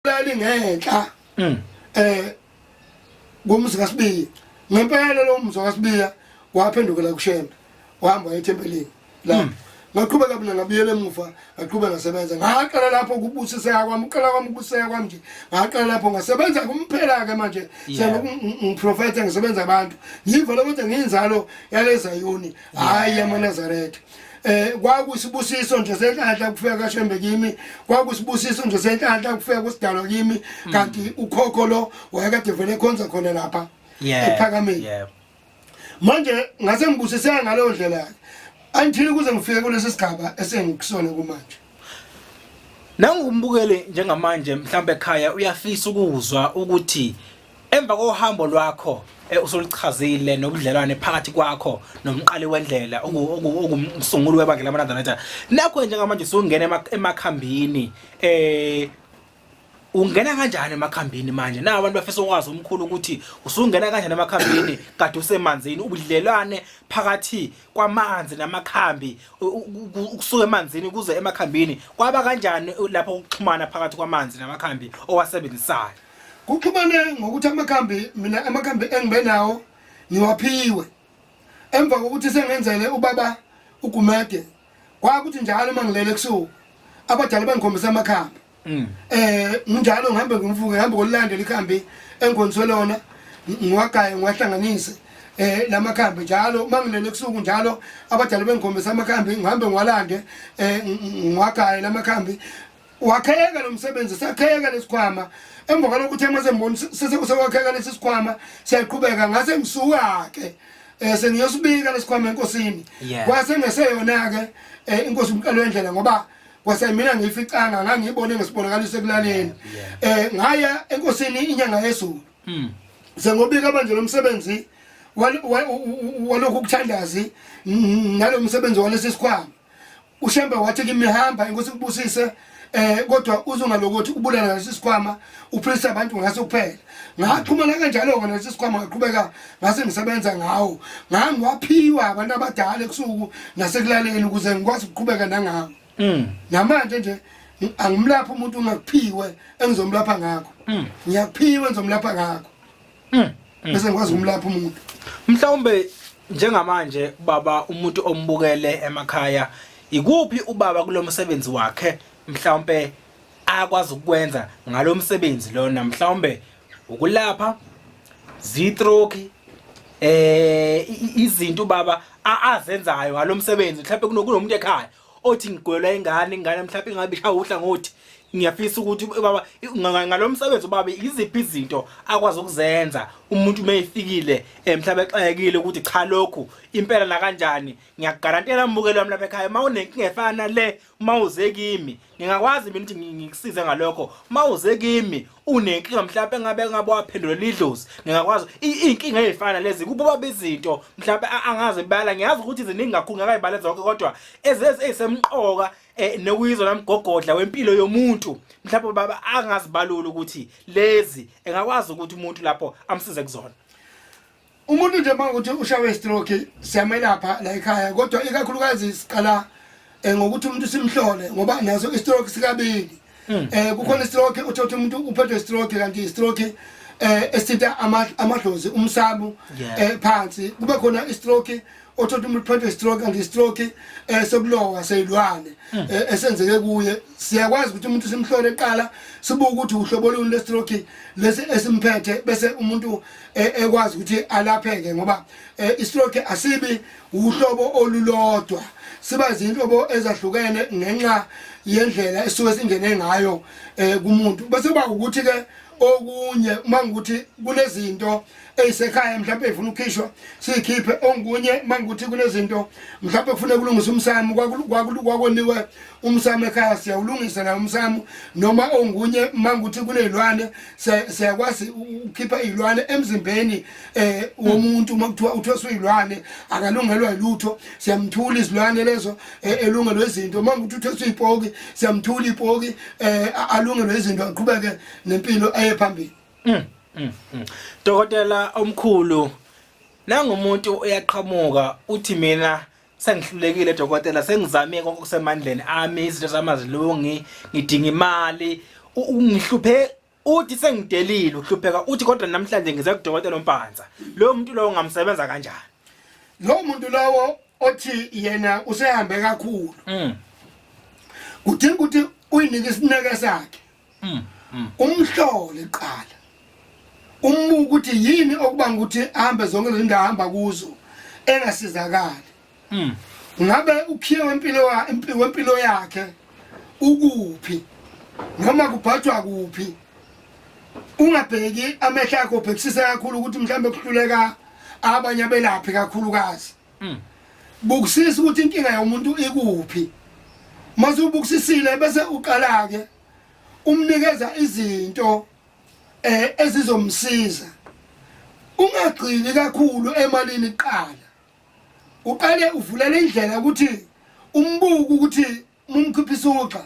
lali ngenhla mm. eh kumzi kaSibiya ngempela lo mzi kaSibiya waphendukela kuShembe wahamba ethempelini la mm. ngaqhubeka mina ngabuyela emuva ngaqhubeka ngasebenza ngaqala lapho ukubusiseka kwami uqala kwami ukubusiseka kwami nje ngaqala lapho ngasebenza kumphela-ke manje ngiprofetha ngisebenza abantu ngiva lokuthi ngiyinzalo yalezayoni hhayi yamaNazaretha eh kwakusibusiso nje senhlanhla kufika kashembe kimi kwakusibusiso nje senhlanhla kufika kusidalo kimi mm. kanti ukhokho lo wayekade vele khonza khona lapha ephakameni yebo manje ngase ngibusiseka ngaleyo ndlela yakhe angithini kuze ngifike kulesi sigaba esengikusona kumanje nangu umbukeli njengamanje mhlawumbe ekhaya uyafisa ukuzwa ukuthi Emva kohambo lwakho eh, usulichazile nobudlelwane phakathi kwakho nomqali wendlela oku- oku- okumsunguli webandla lamanazareta nakho njengamanje usungena ema- emakhambini eh ungena kanjani emakhambini manje na abantu bafisa ukwazi umkhulu ukuthi usungena kanjani emakhambini kade usemanzini ubudlelwane phakathi kwamanzi namakhambi u- u- u- ukusuka emanzini kuze emakhambini kwaba kanjani lapho ukuxhumana phakathi kwamanzi namakhambi owasebenzisayo Kuxhumane ngokuthi amakhambi mina amakhambi engibe nawo ngiwaphiwe emva kokuthi sengenzele ubaba ugumede kwakuthi njalo uma ngilele ebusuku abadala bangikhombisa amakhambi mm. eh nginjalo ngihambe ngimvuke ngihambe kolandela ikhambi engikhoniswe lona ngiwagaye ngiwahlanganise eh lamakhambi njalo mangilele ebusuku njalo abadala bengikhombisa amakhambi ngihambe ngiwalande eh ngiwagaye lamakhambi wakheka lo msebenzi sakheka lesikhwama emva kwalokhu uthe uma semboni sekusewakheka lesi sikhwama siyaqhubeka ngase ngisuka-ke um eh, sengiyosibika lesikhwama enkosini kwase ngeseyona-ke um eh, inkosi umqalo wendlela ngoba kwase mina ngiyificanga ngangiyibone ngesibonakaliso ekulaleni um ngaya enkosini inyanga yezulu hmm. sengobika manje lo msebenzi walokhu kuthandazi nalo msebenzi walesi sikhwama ushembe wathi kimi hamba inkosi kubusise eh kodwa uzongalokothi ubulala lesi sikhwama uphilisa abantu ngaso kuphela ngaxhumana kanjalo ke lesi sikhwama ngaqhubeka ngase ngisebenza ngawo ngangiwaphiwa abantu abadala ekusuku nasekulaleni ukuze ngikwazi ukuqhubeka nangawo mm. namanje nje angimlapha umuntu ongakuphiwe engizomlapha ngakho mm. ngiyakuphiwe ngizomlapha ngakho Mm, mm. Bese ngikwazi ukumlapha umuntu. Mhlawumbe njengamanje baba umuntu ombukele emakhaya ikuphi ubaba kulomsebenzi wakhe mhlawumbe akwazi ukwenza ngalomsebenzi lona mhlawumbe ukulapha zitroki eh izinto baba azenzayo ngalomsebenzi mhlawumbe kunomuntu ekhaya othi ngigwelwa ingane ingane mhlawumbe ingabe ishaya uhlangothi ngiyafisa ukuthi baba ngalomsebenzi ubaba iziphi izinto akwazi ukuzenza umuntu uma efikile eh, mhlawumbe exakekile ukuthi cha lokhu impela la kanjani ngiyakugarantela mbukelo wami lapha ekhaya uma unenkinga efana le uma uze kimi ngingakwazi mina ukuthi ngi- ngikusize ngalokho uma uze kimi unenkinga mhlawumpe engabe engabe waphendulelwa idlozi ngingakwazi i- iy'nkinga ey'fana lezi kubo baba izinto mhlawumpe a- angazi bala ngiyazi ukuthi ziningi kakhulu ngakayibale zonke kodwa ezezi ey'semqoka um nokuyizona mgogodla wempilo yomuntu mhlawumpe baba angazibalula ukuthi lezi engakwazi ukuthi umuntu lapho amsize kuzona umuntu nje makuthi ushawe stroke siyamelapha la ekhaya kodwa ikakhulukazi siqala eh, ngokuthi umuntu simhlole ngoba naso istroke sikabili hmm. eh kukhona istroke uthothi umuntu uphethwe stroke kanti istroke eh esithinta amadlozi umsabu eh phansi kube khona istroke othola umuntu phanthe stroke and stroke eh sokulowa seyilwane hmm. eh, esenzeke kuye siyakwazi ukuthi umuntu simhlole eqala sibuke ukuthi uhlobo luni le stroke lesi esimphethe bese umuntu eh, ekwazi ukuthi alapheke ngoba eh, i stroke asibi uhlobo olulodwa siba zinhlobo ezahlukene ngenxa yendlela esuke singene ngayo kumuntu bese kuba ukuthi ke okunye uma ngikuthi kunezinto eyisekhaya mhlawumbe ifuna ukhishwa siyikhiphe ongunye manguthi kunezinto mhlawumbe kufuneka kulungisa umsamo kwakoniwe umsamo ekhaya siyawulungisa nawo umsamo noma ongunye manguthi kunezilwane siyakwazi ukukhipha izilwane emzimbeni eh womuntu uma kuthiwa uthweswa izilwane akalungelwa ilutho siyamthula izilwane lezo eh, elungelwe izinto manguthi uthweswa ipoki siyamthula ipoki eh alungelwe izinto aqhubeke nempilo aye phambili mm, mm, mm. Dokotela omkhulu nangumuntu uyaqhamuka uthi mina sengihlulekile dokotela sengizame konke okusemandleni ami izinto zamazilungi ngidinga imali ungihluphe uthi sengidelile uhlupheka uthi kodwa namhlanje ngize kudokotela ompanza lo muntu lowo ngamsebenza kanjani lo muntu lowo othi yena usehambe kakhulu mm. kudinga ukuthi uyinike isineke sakhe mm, mm. umhlole qala umbuka ukuthi yini okubanga ukuthi ahambe zonke lezi ndawo ahamba kuzo engasizakali mm. ngabe ukhiye wempilo wempilo yakhe ukuphi noma kubhathwa kuphi ungabheki amehla akho bhekisisa kakhulu ukuthi mhlawumbe kuhluleka abanye abelaphi kakhulukazi Mm. Bukisisa ukuthi inkinga yomuntu ikuphi. Mase ubukisisile bese uqala ke umnikeza izinto eh ezizomsiza. Ungagcini kakhulu emalini kuqala. Uqale uvulele indlela ukuthi umbuku ukuthi mumkhiphisa uxa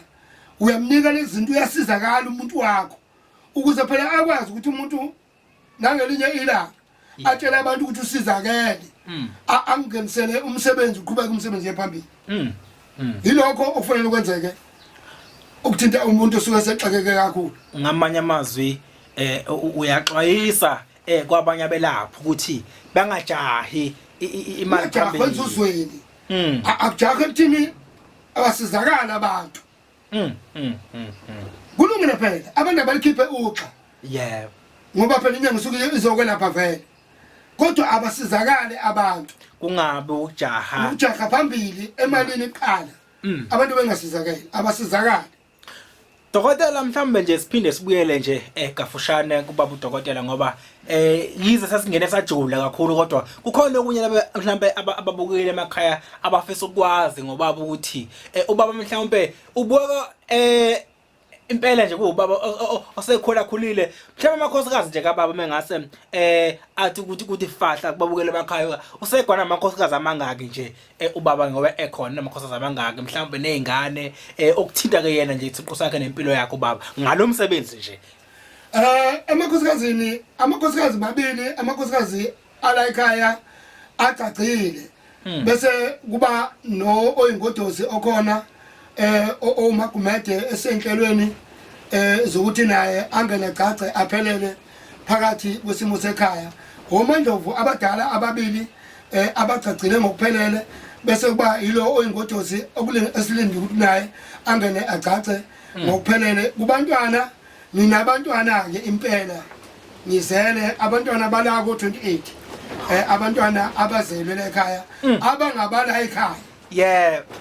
uyamnika lezinto uyasizakala umuntu wakho ukuze phela akwazi ukuthi umuntu nangelinye ilanga atshela abantu ukuthi usizakele mm. angingenisele umsebenzi uqhubeke umsebenzi yephambili mm. mm. yilokho okufanele kwenzeke ukuthinta umuntu osuke sexakeke kakhulu ngamanye amazwi eh uyaxwayisa eh kwabanye abelaphi ukuthi bangajahi imali phambili uzweni akujahi ekuthini abasizakala abantu Mm, mm, mm, mm. Kulungile phela abantu abalikhiphe uxa. Yebo. Ngoba phela inyanga isuke izokwelapha vele. Kodwa abasizakale abantu. Kungabe ujaha. Ujaha phambili emalini iqala. Mm. Abantu bengasizakale, abasizakale. Dokotela mhlambe nje siphinde sibuyele nje egafushane eh, kubaba udokotela ngoba eh yize sasingene sajula kakhulu kodwa kukhona okunye mhlawumbe ababukile emakhaya abafisa ukwazi ngobaba ukuthi eh, ubaba mhlawumbe ubuka eh impela nje kuwubaba osekhula khulile mhlawumbe amakhosikazi nje kababa mengase eh athi ukuthi ukuthi fahla kubabukele emakhaya usegwana amakhosikazi amangaki nje eh, ubaba ngoba ekhona amakhosikazi amangaki mhlawumbe nezingane eh, okuthinta ke yena nje isiqu sakhe nempilo yakhe ubaba ngalomsebenzi nje Eh emakhosikazini amakhosikazi mabili amakhosikazi ala ekhaya agcagcile hmm. bese kuba no oyingodozi okhona eh owumagumede esenhlelweni eh zokuthi naye angene gcagce aphelele phakathi kwesimo sekhaya ngomandlovu abadala ababili eh abagcagcile ngokuphelele bese kuba yilo oyingodozi okulenge esilindi ukuthi naye angene agcagce hmm. ngokuphelele kubantwana ninabantwana-ke impela ngizele abantwana bala ko-28 eh, abantwana abazelwe la ekhaya hmm. abangabala ekhaya yebo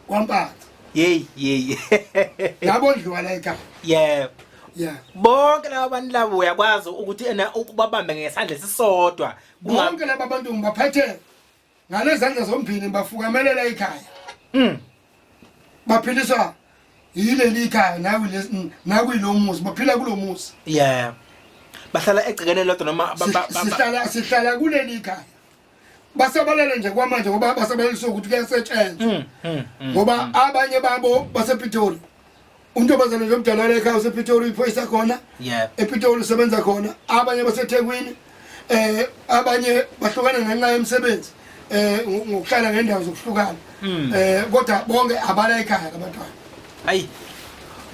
kwampatha yeyi yeyi yabondliwa la ekhaya yebo yeah bonke laba bantu labo uyakwazi ukuthi ena ukubabambe ngesandla esisodwa bonke laba bantu ngibaphethe ngalezandla zombili bafukamelela ikhaya mm. baphiliswa yileli ikhaya nakuyilo muzi baphila kulo muzi yeah bahlala egcikene lodwa noma sihlala sihlala kuleli ikhaya basabalele nje kwamanje ngoba basabalelisa ukuthi kuyasetshenzwa mm, mm, ngoba abanye babo basePitoli untombazane nje omdala wale ekhaya usePitoli uyiphoyisa khona yeah ePitoli usebenza khona abanye baseThekwini eh abanye bahlukana ngenxa yemisebenzi eh ngokuhlala ngendawo zokuhlukana hmm. eh kodwa bonke abala ekhaya abantwana ayi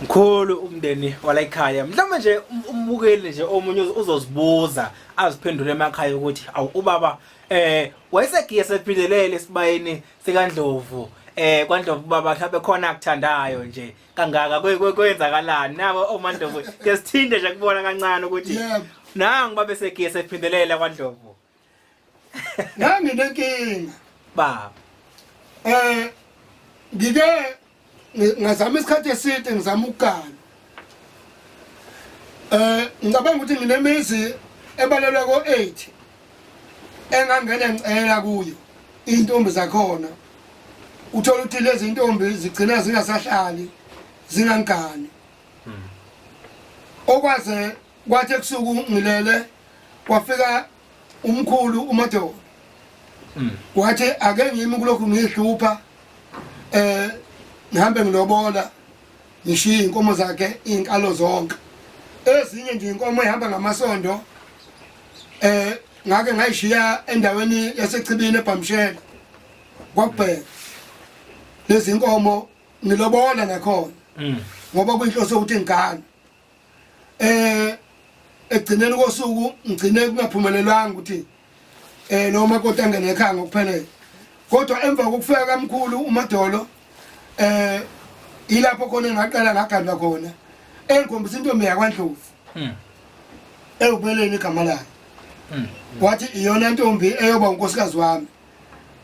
mkhulu umndeni wala ekhaya mhlawumbe nje um-, umbukeli nje omunye uzozibuza aziphendule emakhaya ukuthi awu ubaba eh wayesegiye sephindelele esibayeni sikaNdlovu eh kwaNdlovu baba mhlawumbe khona akuthandayo nje kangaka kwe- kwe- kwenzakalani nabo omaNdlovu ke sithinde nje kubona kancane ukuthi Yebo. nangu babe segesi ephindelela kwaNdlovu nganginenkinga baba eh ngike ngazama isikhathi eside ngizama ukugana eh ngicabanga ukuthi nginemizi ebalelwa ko-8 engangena ngicela kuyo iy'ntombi zakhona uthola ukuthi lezi ntombi zigcina zingasahlali zingangani hmm. okwaze kwathi ebusuku ngilele kwafika umkhulu uMadolo mm. wathi ake ngimi kulokhu ngihlupha eh ngihambe ngilobola ngishiye inkomo zakhe inkalo zonke ezinye nje inkomo ihamba ngamasondo eh ngake ngayishiya endaweni yasechibini ebhamshela kwabheka lezi nkomo ngilobola nakhona mm. ngoba kuyinhloso ukuthi ngigane eh ekugcineni kosuku ngigcine kungaphumelelanga ukuthi eh lo makoti angene ekhaya ngokuphelele kodwa emva kokufika kamkhulu umadolo eh ilapho khona ngaqala ngagandwa khona engikhombisa intombi yakwandlovu hmm. ewubeleni igama layo hmm. wathi iyona ntombi eyoba unkosikazi wami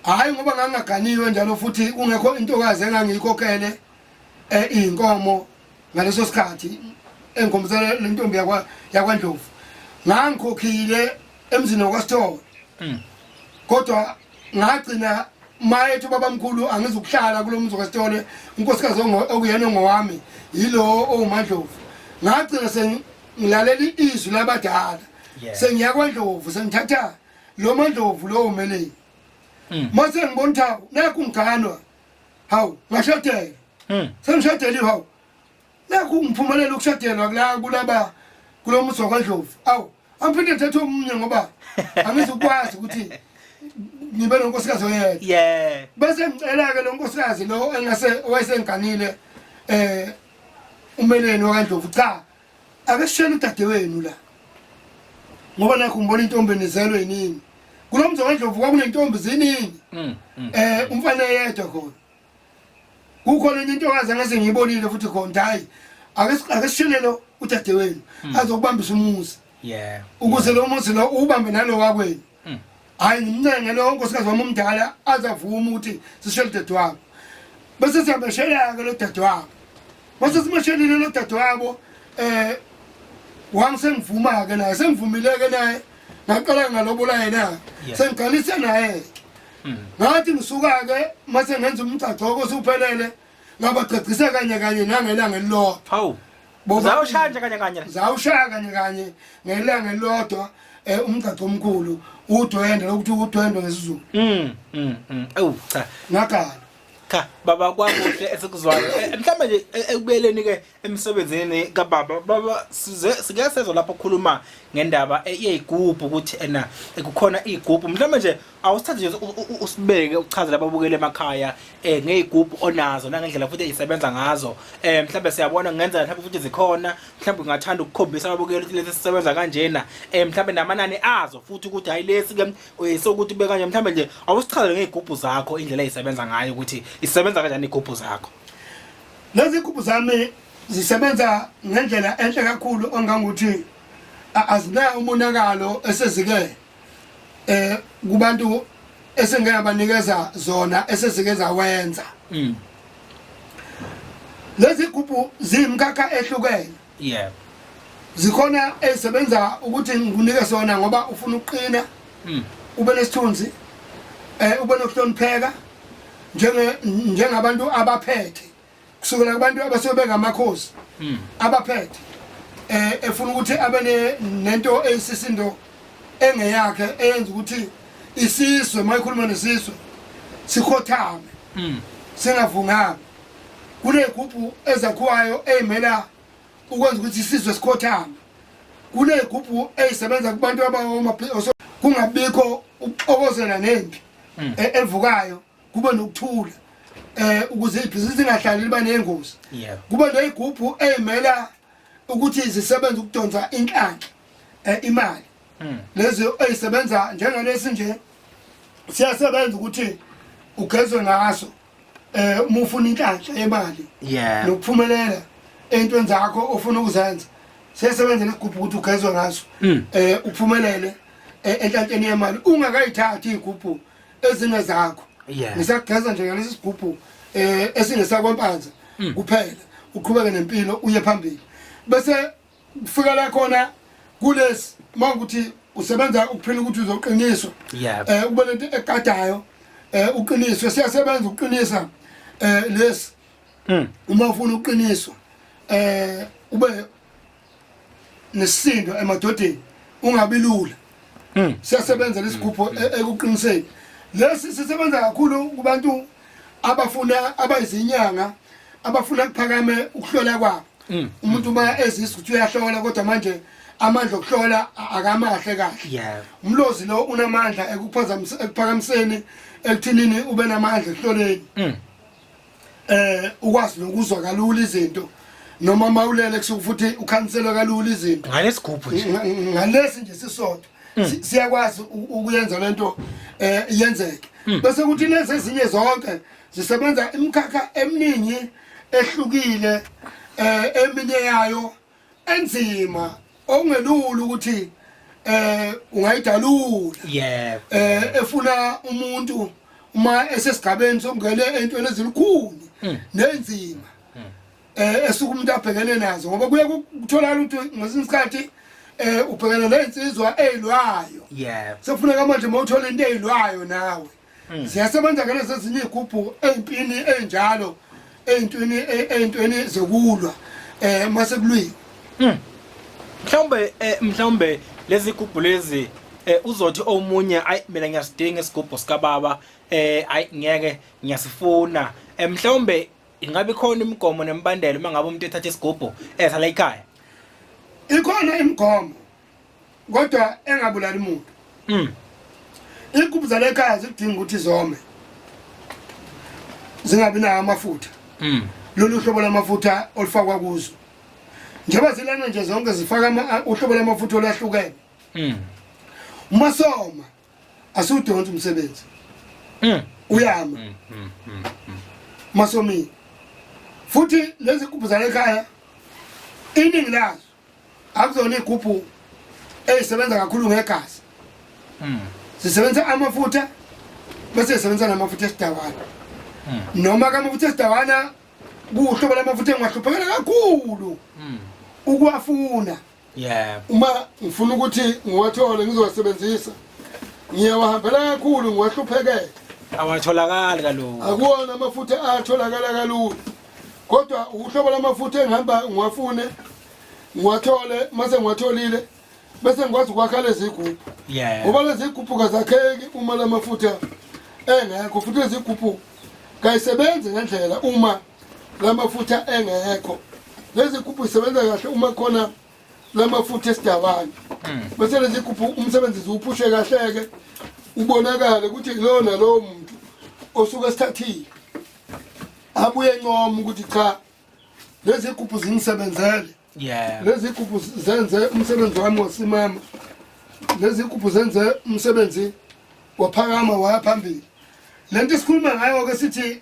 hhayi ngoba ngangingaganiwe njalo futhi kungekho intokazi engangiyikhokhele um eh, iy'nkomo ngaleso sikhathi engikhombisa le ntombi yakwandlovu ngangikhokhile emzini wakwasithole hmm. kodwa ngagcina mayethi ubabamkhulu angizukuhlala kulo mzi wakwasithole unkosikazi okuyena ongowami yilo owumandlovu ngagcina sengilalela izwi labadala sengiya kwandlovu sengithatha lo mandlovu lowo meleni hmm. mase ngibona ukuthi nakho ngiganwa hawu ngashadelwa Mm. sengishadele hawu nakho ungiphumelela ukushadelwa kula kulaba kulo muso kwaNdlovu awu angiphinde ngithathe omunye ngoba angizukwazi ukuthi ngibe nonkosikazi oyedwa yeah bese ngicela-ke lo nkosikazi lo engase owayesengiganile um umeleni wakaNdlovu cha Ake sishele udadewenu la. Ngoba nakho ngibona intombi enizelwe yini. Kulo mzi kaNdlovu kwakunentombi ziningi. Mm, mm. Eh umfana yedwa khona. Kukhona enye intokazi angase ngiyibonile futhi khona hayi. Ake ake sishele lo udadewenu mm. azokubambisa umuzi. Yeah. Ukuze lo muzi lo ubambe nalo wakwenu. Hmm. Hayi ngimncenge lo nkosikazi wami omdala azavume ukuthi sishele dadewabo. Bese siyabeshelaka lo dadewabo. Bese simeshelile lo dadewabo eh wami sengivuma ke naye sengivumile ke naye ngaqala ngalobola yena sengiqalise naye hmm. ngathi ngisuka ke mase ngenza umgcagcoko usuphelele ngabagcagcisa kanye kanye nangelanga elilodwa Uzawushaya nje kanye kanye. Uzawushaya kanye kanye ngelanga elilodwa eh umgcagco omkhulu udwende lokuthi udwende ngesizulu. Mm. Mm. mm. Awu cha. Ngakhala. Cha baba kwakuhle esikuzwayo. Eh, eh, mhlawumbe nje eh, ekubeleni ke emsebenzini ka baba baba size sike sezwa lapho khuluma ngendaba eyigubhu ukuthi ena kukhona igubhu mhlawumbe nje awusithathe nje usibeke ukuchazela ababukeli emakhaya um ngey'gubhu onazo nangendlela futhi ey'sebenza ngazo um mhlawumbe siyabona kungenzeka mhlawumbe futhi zikhona mhlawumbe ungathanda ukukhombisa ababukeli ukuthi lesi sisebenza kanjena um mhlawumbe namanani azo futhi ukuthi hhayi lesi-ke eh, sokuthi ube kanje mhlawumbe nje awusichazele ngey'gubhu zakho indlela ey'sebenza ngayo ukuthi isebenza kanjani iy'gubhu zakho lezi gubhu zami zisebenza ngendlela enhle kakhulu ongangokuthi azinayo umonakalo esezikele eh kubantu esengeke abanikeza zona esezike zawenza mm. lezi gubhu zimkakha ehlukene yeah zikhona ezisebenza ukuthi ngikunike sona ngoba ufuna ukuqina mm. ube nesithunzi eh ube nokuhlonipheka njenge njengabantu abaphethe kusukela kubantu abasuke bengamakhosi hmm. abaphethe eh efuna ukuthi abe nento eyisisindo engeyakhe eyenza ukuthi isizwe mayikhuluma nesizwe sikhothame hmm. singavunganga kunegubhu ezakhiwayo eyimela ukwenza ukuthi isizwe sikhothame kunegubhu eyisebenza kubantu abawoma kungabikho ukuxokozela nempi hmm. e-, evukayo kube nokuthula eh ukuze ibhizinisi lingahlali liba nengozi kube neyigubhu eyimela ukuthi zisebenza ukudonsa inhlanhla eh, imali hmm. lezi ezisebenza njengalesi nje siyasebenza ukuthi ugezwe ngaso eh uma ufuna inhlanhla yemali nokuphumelela entweni zakho ofuna ukuzenza siyasebenza nesigubhu ukuthi ugezwe ngaso hmm. eh uphumelele eh, enhlanhleni yemali ungakayithathi igubhu ezinye zakho Yeah. ngisageza nje ngalesi sigubhu eh esingesakwampanza Mm. kuphela uqhubeke nempilo uye phambili bese kufika la khona kulesi mawukuthi usebenza ukuphila ukuthi uzoqiniswa Yeah. eh kube lento egadayo eh uqiniswe siyasebenza ukuqinisa eh lesi Mm. uma ufuna uqiniswa eh ube nesisindo emadodeni ungabi lula hmm. siyasebenza lesigubho hmm. e-, ekuqiniseni lesi sisebenza kakhulu kubantu abafuna abayizinyanga abafuna kuphakame ukuhlola kwabo hmm. umuntu uma ezisa ukuthi uyahlola kodwa manje amandla okuhlola akamahle kahle umlozi lo unamandla ekuphazamiseni ekuphakamiseni ekuthinini ube namandla ekuhloleni eh ukwazi nokuzwa kalula izinto noma mawulele kusuku futhi ukhanselwa kalula izinto ngalesigubhu nje ngalesi nje sisodwa mm. siyakwazi ukuyenza lento eh yenzeke mm. bese kuthi lezi ezinye zonke zisebenza imikhakha eminingi ehlukile eh eminye yayo enzima okungelula ukuthi eh ungayidalula yebo eh efuna umuntu uma esesigabeni sokungena entweni ezilukhulu hmm. nenzima hmm. eh esuku umuntu abhekene nazo ngoba kuye kutholakala ukuthi ngesinye isikhathi eh ubhekene nezinsizwa ezilwayo yebo sekufuneka manje mawuthola into ezilwayo nawe hmm. ziyasebenza ke lezi ezinye igubhu ey'mpini ey'njalo ey'ntweni ey'ntweni zokulwa eh mase kulwile hmm. mhlawumbe eh, mhlawumbe lezi gubhu lezi eh, uzothi omunye ayi mina ngiyasidinga isigubhu sikababa eh ayi ngeke ngiyasifuna eh, mhlawumbe ingabe khona imigomo nemibandela uma ngabe umuntu ethatha isigubhu esala ikhaya ikhona imigomo kodwa engabulali muntu mm. inkukhu zalekhaya zidinga ukuthi zome zingabi nawo amafutha mm. lolu hlobo lamafutha olufakwa kuzo njengoba zilana nje zonke zifaka uhlobo lamafutha olwahlukene mm. uma soma asiwudonsi umsebenzi mm. uyama mm, mm, mm, mm. masomile futhi lezi nkukhu zalekhaya iningi lazo akuzona igubhu ezisebenza kakhulu ngegazi hmm. zisebenza amafutha bese zisebenza namafutha esidawana hmm. noma ke amafutha esidawana kuhlobo lamafutha engingahluphekela kakhulu hmm. ukuwafuna uma ngifuna ukuthi ngiwathole ngizowasebenzisa ngiyawahambela kakhulu ngiwahluphekele awatholakali kalula akuwona amafutha atholakala kalula kodwa uhlobo lamafutha engihamba ngiwafune ngiwathole mase ngiwatholile bese ngikwazi ukwakha lezi gubhu Yeah. ngoba lezi gubhu kazakheki uma la mafutha engekho futhi lezi gubhu kayisebenzi ngendlela uma la mafutha engekho lezi gubhu zisebenza kahle uma khona la mafutha esidabani bese lezi gubhu umsebenzi ziwuphushe kahle-ke ubonakale ukuthi kulowo nalowo muntu osuke esithathile abuye ncoma ukuthi cha lezi gubhu zingisebenzele yeah lezi gubhu zenze umsebenzi wami wasimama lezi gubhu zenze umsebenzi waphakama waya phambili lento isikhuluma ngayo ke sithi